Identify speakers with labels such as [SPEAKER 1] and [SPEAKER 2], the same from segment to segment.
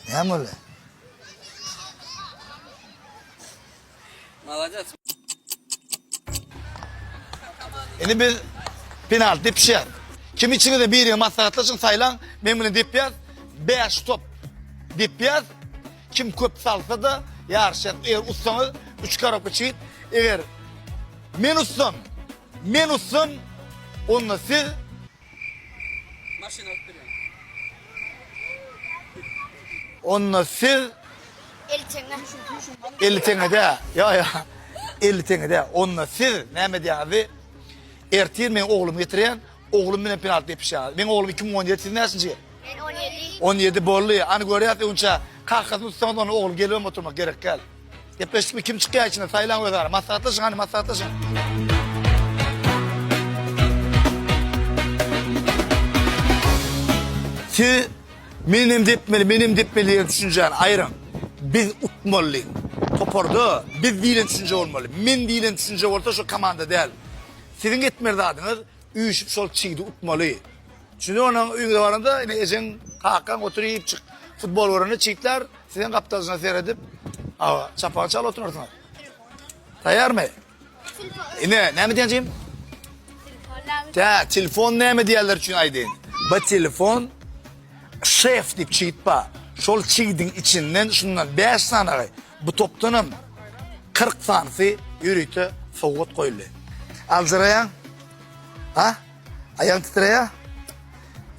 [SPEAKER 1] Näme boldy?
[SPEAKER 2] Malades.
[SPEAKER 1] Indi biz penalti depişýär. Kim içiňizde biriňe maslahatlaşyň, saýlaň. Men bilen depýär. 5 top depýär. Kim köp salsa-da ýaryşýar. Eger utsaňyz 3 korobka çigit. Eger men utsam, men utsam, onda siz Onda siz
[SPEAKER 3] Eli
[SPEAKER 1] teňede. Yo yo. Eli teňede. Onda siz näme diýýäňiz? Ertir men oglumy getirýän. Oglum bilen penalty depişýär. Men oglum 2017 siz näçinji ýyl?
[SPEAKER 3] Men 17. 17 boldy.
[SPEAKER 1] Ani görýärsiň, onça kahkasyny tutsaňyz, onda ogluň gelibem oturmak gerek däl. Gepleşdik mi kim çykýar içinde saýlaň öz ara. Maslahatlaşyň hany maslahatlaşyň. Siz men hem depmeli, men hem depmeli diýen düşünjäni aýryň. Biz utmaly. Toparda biz diýlen düşünje bolmaly. Men diýlen düşünje bolsa şu komanda däl. Siziň etmeli zadyňyz üýşüp şol çigdi utmaly. Çünki onuň öýüňe baranda ine ejeň, kakaň oturyp çyk futbol görende çigtler Sizeň gapdalçyna seredip, aga, çapagy çalyp oturarsyňyz. Taýýarmy? Ine, näme diýenjim? Tä, telefon näme diýerler üçin aýdýan. Bu telefon şef diýip çigit bar. Şol çigidiň içinden şundan 5 sanagy, bu topdan hem 40 sanysy ýörite sowgat goýuldy. Aljyraýaň. Ha? Aýagyň titreýär.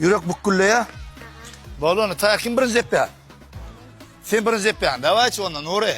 [SPEAKER 1] Ýürek bükgülleýär. Bol onda, ta kim birinji depýär? Sen birinji depýäň. Dawaýçy onda, Nury.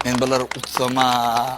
[SPEAKER 1] Men bular utsama.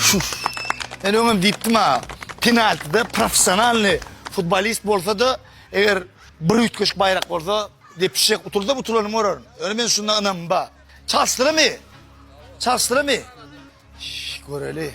[SPEAKER 1] Şuş. Men öňem diýipdim-ä, penaltide professionalnyý futbolist bolsa-da, eger bir üýtgeşik baýrak bolsa, depişjek, utuldam utulanyn görerin. Ýöne men şunda ynamym bar. Çalşdyramy? Çalşdyramy? Şş, göreli.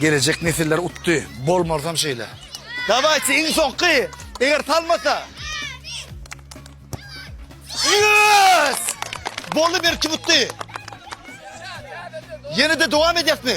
[SPEAKER 1] Gelejek nesiller utdy. Bolmarysam şeýle. Dawayçy iň soňky. Eger salmasa. Yes! Boldy bir kim utdy. Yeni de devam edýäs mi?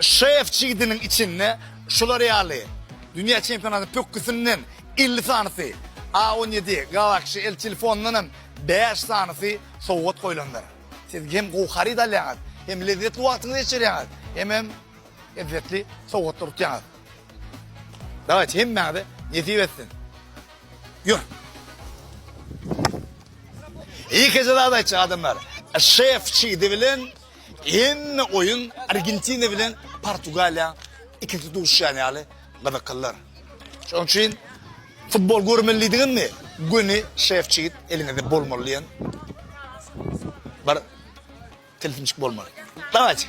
[SPEAKER 1] Şef çigidiniň içinde şular ýaly dünýä çempionatynyň pökgüsinden elli sanysy, A on ýedi, Galaxy, el telefonyndan hem bäş sanysy sowgat goýlandyr. Siz hem gowy haryt alýaňyz, hem lezzetli wagtyňyzy geçirýäňiz, hemem ezzetli sowgatlary utýaňyz. Dawaýçy, hemmäňize nesip etsin! Ýör! Ýekeje zat aýtjak adamlar, Şef çigidi bilen Hemme oýun Argentina bilen Portugaliýaň ikinji duşýany ýaly gyzyklydyr. Şonuň üçin futbol görmelidigiňizmi, göni şefçigit eliňizde bolmaly diýen bir tilsimçik bolmaly. Dawayt!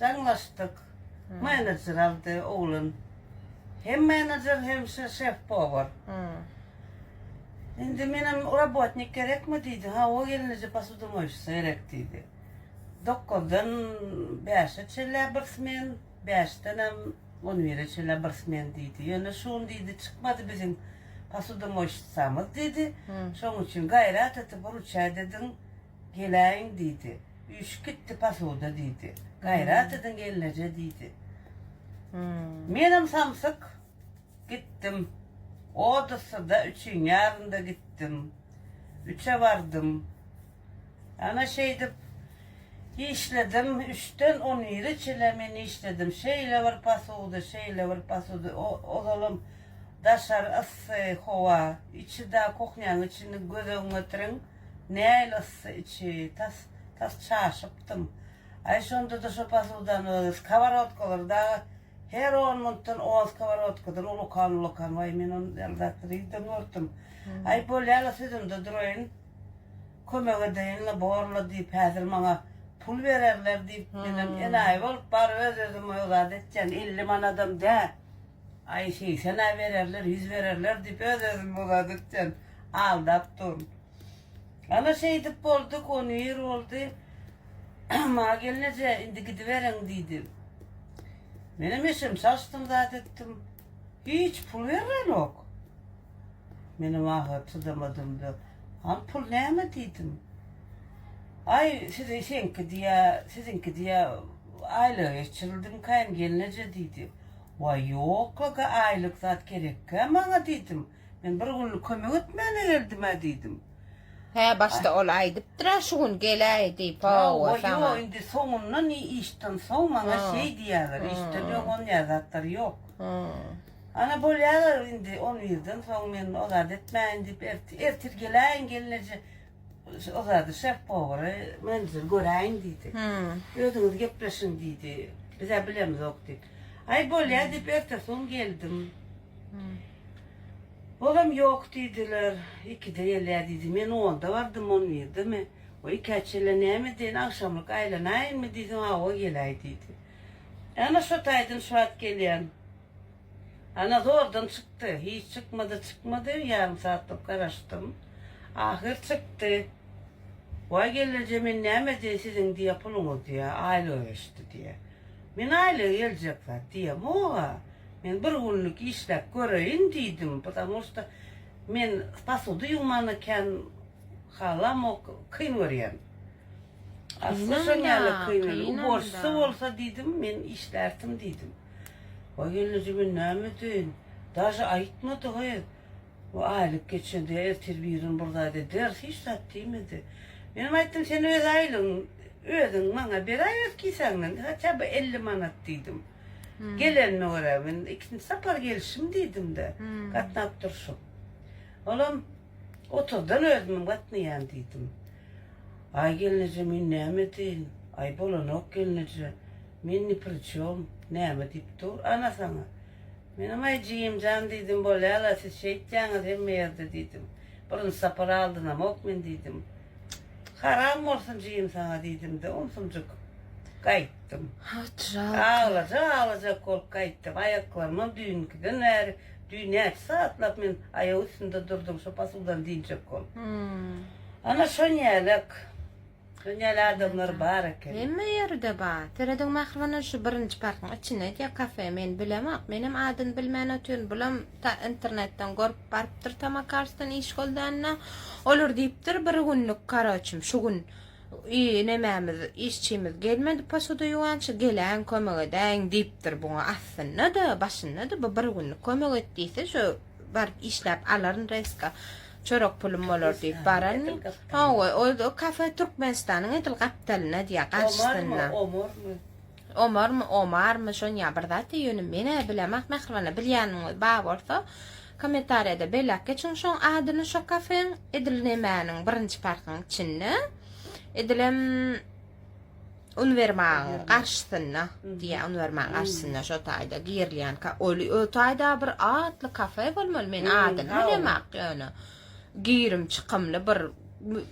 [SPEAKER 4] Jaňlaşdyk. Menejer aldy oglan. Hem menejer hem şef-povar. Indi menem robotnik gerekmi diýdi. Hawa gelneje posudomoýşica gerek diýdi. Dokuzdan bäşe çenlä bir smen, bäşdenem on bire çenlä bir smen diýdi. Ýöne şu gün diýdi çykmady biziň posudomoýşicamyz diýdi. Şonuň üçin gaýrat et, buruç ädidiň. Geläýiň, diýdi. Üýşüp gitdi posuda, diýdi. Gaýrat ediň gelneje, diýdi. Menem samsyk gitdim. Odessa-da, üçiň ýarynda gitdim. Üçe bardym. Ana şeýdip işledim. Üçden on bire çenli men işledim. Şeýle bir posudy, şeýle bir posudy. Ozalam daşary yssy howa. Içi-de, kuhnýanyň içini göz öňüňe getiriň. Nähili yssy içi, tas, tas çaşypdym. Aý, şonda-da şo posudan öz, skoworodkalary dagy her on muntdan on skoworodkadan ulakan-ulakan, waý, men ony ýaly zat nirden gördüm. Aý, bolýa-la, sözümde duraýyn, kömek edeýin-le, bor-la diýip, häzir maňa pul bererler diýip, menem enaýy bolup, bar öz-özüme o zady etjän, elli manadam däl. Aý, segsen-ä bererler, ýüz bererler diýip, öz-özüme o zady etjän. Aldap dur. Ana şeýdip boldy konwir boldy. Maňa gelneje indi gidiberiň diýdi. Menem eşim çalşdym zat etdim. Hiç pul berlenok. Menem ahyry çydamadymda Al pul näme diýdim. Aý sizi seňki diýä siziňki diýä aýlyga geçirildimikaýyn gelneje diýdi. Waý ýok-la ga aýlyk zat gerekkä maňa diýdim. Men bir günlük kömek etmäne geldim-ä diýdim. Hä, başda
[SPEAKER 5] ol aýdypdyr-a şu gün geläý diýip, hawa, saňa. Hawa, ýo, indi soňundan
[SPEAKER 4] işden soň maňa şeý diýýäler, işden öň onýa zatlar ýok. Ana, bolýalar indi on birden soň men o zady etmäýin diýip, ertir geläýiň gelneje, o zady şef-powary, menejeri göräýiň diýdi. Özüňiz gepleşiň diýdi, biz-ä bilemizok diýip. Aý, bolýa diýip, ertesi gün geldim. Olam ýok diýdiler. Ikide gelýär diýdi. Men onda bardym, on birdemi, we ikä çenli näme edeýin, agşamlyk aýlanaýynmy diýseň, hawa, geläý diýdi. Ana, şo taýdan şu wagt gelýän. Ana, zordan çykdy. Hiç çykmady, çykmady, ýarym satlap garaşdym. Ahyr çykdy. Waý, gelneje, men näme edeýin, siziň, diýýär, puluňyz, diýýär, aýlyga geçdi, diýýär. Men aýlygy geljek zat diýemog-a. Men bir günlük işläp göreýin diýdim, ptamu şta men pasudy ýuwmany kän halamok, kyn görýän. Asly şonýaly kyn el, uborsysy bolsa diýdim, men işlärdim diýdim. Waý gelneje men näme edeýin, daže aýtmady gyz. Bu aýlyk geçende ertir birin bir zat ederis, hiç zat diýmedi. Menem aýtdym, sen öz aýlygyň, özüň maňa beräý öz kisäňden, hatja by elli manat diýdim. Gelenime görä, men ikinji sapar gelşim diýdim-de, gatnap durşum. Olam, oturdan özümem gatnaýan diýdim. Aý gelneje, men näme edeýin? Aý bolanok gelneje, men ni pri çom, näme diýip dur, ana saňa. Menem Aý Jigimjan diýdim bolýala siz şeýtýäňiz hemme ýerde diýdim. Birinji sapar aldynamok men diýdim. Haram bolsun Jigim saňa diýdimde onsumjyk gaýtdym. Aglajak aglajak bolup gaýtdym. Aýaklarymam düýnkiden bäri düýn näçe sagatlap men aýak üstünde durdum şo pasyldan diýjek bolup. Ana şonýälek. Dünýäli adamlar bar eken. Hemme ýerde bar.
[SPEAKER 5] Serediň Mähribanan şu birinji parkyň içinde edýä kafe. Men bilemok. Menem adyny bilmän otyryn. Bulam ta internetden görüp barypdyr Tamakarsdan iş goldanda. Olar diýipdir bir günlük karoçim şu gün i nemämiz işçimiz gelmedi posoda ýuwança geläýiň kömek edäýiň diýipdir buňa aslynda-da başynda-da bu bir günlük kömek et diýse şu baryp işläp alaryn reska çörek pulum bolar diýip barany hawa ol kafe türkmenistanyň edil gapdalynda diýýär garşysynda omarmy omarmy omarmy şonýa bir zat diýýär ýöne menä bilemok mähriban bilýäniňiz bar bolsa kommentariýada belläp geçiň şoň adyny şo kafeň edil nemäniň birinji parkyň içinde edilem uniwermagyň garşysynda diýä uniwermagyň garşysynda şo taýda girilýän oli o taýda bir atly kafe bolmaly men adyny bilemak ýöne girim çykymly bir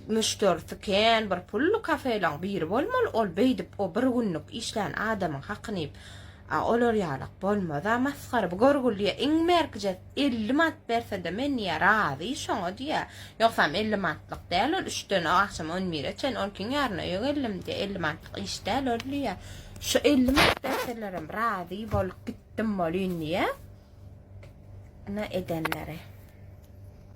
[SPEAKER 5] müşderisi kän bir pully kafelaň biri bolmaly ol beýdip o bir günlük işlän adamyň hakyny a olar ýalak bolmaz a masgara bu görgüliýe iň merkje Elli manat bersede men diýýä razy şoňa diýýä ýogsam elli manatlyk däl ol üçden agşam on bire çen ol kiň ýaryna öýe geldim diýýä elli manatlyk iş däl ol diýýä şu elli manat berselerem razy bolup gitdim bolyn diýýä na edenleri.